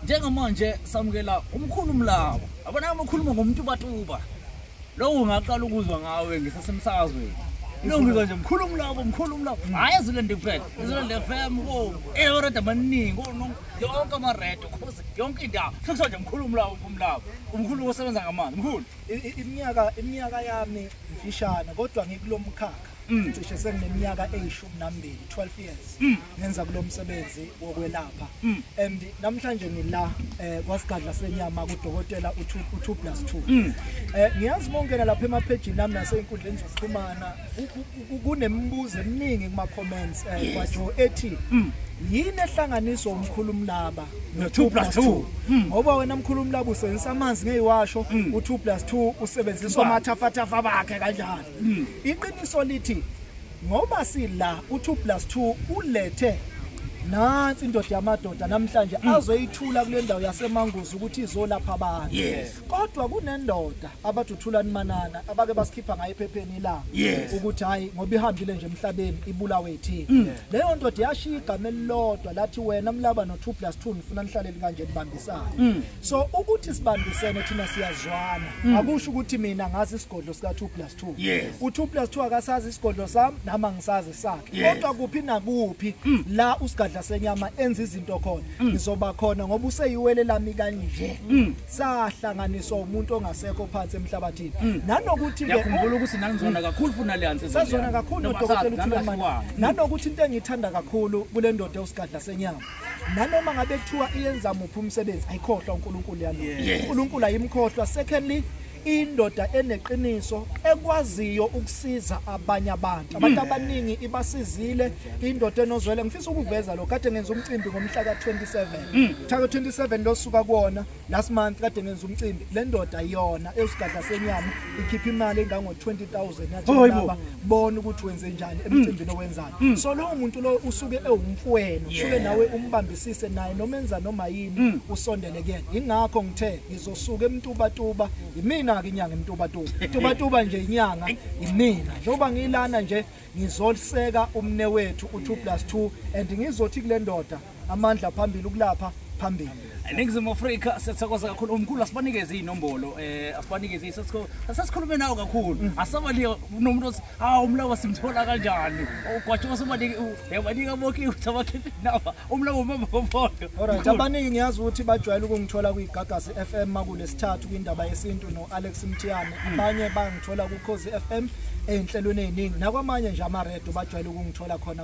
njengamanje samukela umkhulu mlawa abona amakhuluma ngomuntu batuba lowo ngaqala ukuzwa ngawe ngisasemsakazweni Nongizwa nje mkhulu umlabo mkhulu umlabo hayi ezilende kuphela ezilende FM ko eyoreda amaningi ko yonke ama red cause yonke indawo sekuthiwa nje mkhulu umlabo umlabo umkhulu osebenza ngamanzi mkhulu iminyaka iminyaka yami mfishane kodwa ngikulomkhakha mm. cishe sengineminyaka eyishumi nambili 12 years mm. ngenza kulo msebenzi wokwelapha mm. and namhlanje ngila eh, kwasigadla senyama kudokotela u2 plus 2 mm. eh, ngiyazi mongena lapha emaphejini nami nasey'nkundleni zokuxhumana kunemibuzo eminingi kuma-comments eh, yes. kwajo ethi mm. yini ehlanganiso umkhulu umlaba no2 plus 2 hmm. ngoba wena mkhulu umlaba usebenzisa amanzi ngeyiwasho hmm. u2 plus 2 usebenzisa amathafathafa bakhe kanjani hmm. Iqiniso lithi ngoba sila u2 plus 2 ulethe nansi indoda yamadoda namhlanje hmm. azoyithula kule ndawo yasemanguzi ukuthi izolapha abantu kodwa kunendoda abathuthulani manana abake basikhipha ngayo ephepheni la ukuthi hayi ngoba ihambile nje emhlabeni ibulawe ithini hmm. leyo ndoda yashiya igama elilodwa lathi wena mlaba no2 plus 2 ngifuna nihlale likanjeni bambisana hmm. so ukuthi sibambisene thina siyazwana mm. akusho ukuthi mina ngazi isigodlo sika 2 plus 2 yes. u 2 plus 2 akasazi isigodlo sami nama ngisazi sakhe yes. kodwa kuphi nakuphi mm. la usigadla senyama enza izinto khona mm. ngizoba khona ngoba useyiwele lami kanje mm. sahlanganiswa umuntu ongasekho phansi emhlabathini mm. nanokuthi ke yakhumbula ukuthi nanizona kakhulu futhi naliyanse sazona kakhulu nodokotela uthula manje nanokuthi into engiyithanda kakhulu kule ndoda usigadla senyama nanoma ngabe kuthiwa iyenza muphi umsebenzi ayikhohlwa uNkulunkulu yalo uNkulunkulu ayimkhohlwa secondly indoda eneqiniso ekwaziyo ukusiza abanye abantu abantu hmm. abaningi ibasizile indoda enozwele ngifisa ukuveza lo kade ngenza umcimbi ngomhla ka27 mhla ka27 losuka kuona Last month kade nenza umcimbi le ndoda yona eyosigadla senyama ikhipha imali engango 20000 yathi oh, laba bona ukuthi wenze njani mm. emcimbini owenzayo. Mm. So lowo muntu lo usuke ewumfwenu, usuke nawe umbambisise naye noma enza noma yini mm. usondele kuyena. Ingakho ngithe ngizosuka emtuba tuba, yimina ke inyanga emtuba tuba. Tuba tuba nje inyanga yimina. Njengoba ngilana nje ngizoseka umne wethu u2 plus 2 and ngizothi kule ndoda amandla phambili ukulapha phambili eningizimu afrika siyathokoza kakhulu umkhulu asibanikeze iy'nombolo um eh, asibanikeze asasikhulume nawo kakhulu mm. asabali nomuntu othi ha umlawa simthola kanjani ugwatshiwa sobanika boke ukuthi abakhiphe inaba umlawa umama kobodo olright abaningi ngiyazi ukuthi bajwayele ukungithola kwigagasi f m makulesithathu kwindaba yesintu no-alex mthiyane mm. abanye bangithola kukhozi f m ey'nhlelweni ey'ningi nakwamanye nje amaredo bajwayele ukungithola khona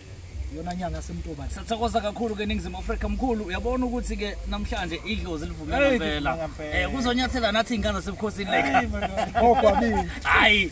yona nyanga yasemntobane sithokoza kakhulu ke ningizimu afrika mkhulu uyabona ukuthi ke namhlanje idlozi livumela impela um eh, kuzonyathela nathi iy'ngane zasebukhosini like ogwabile hayi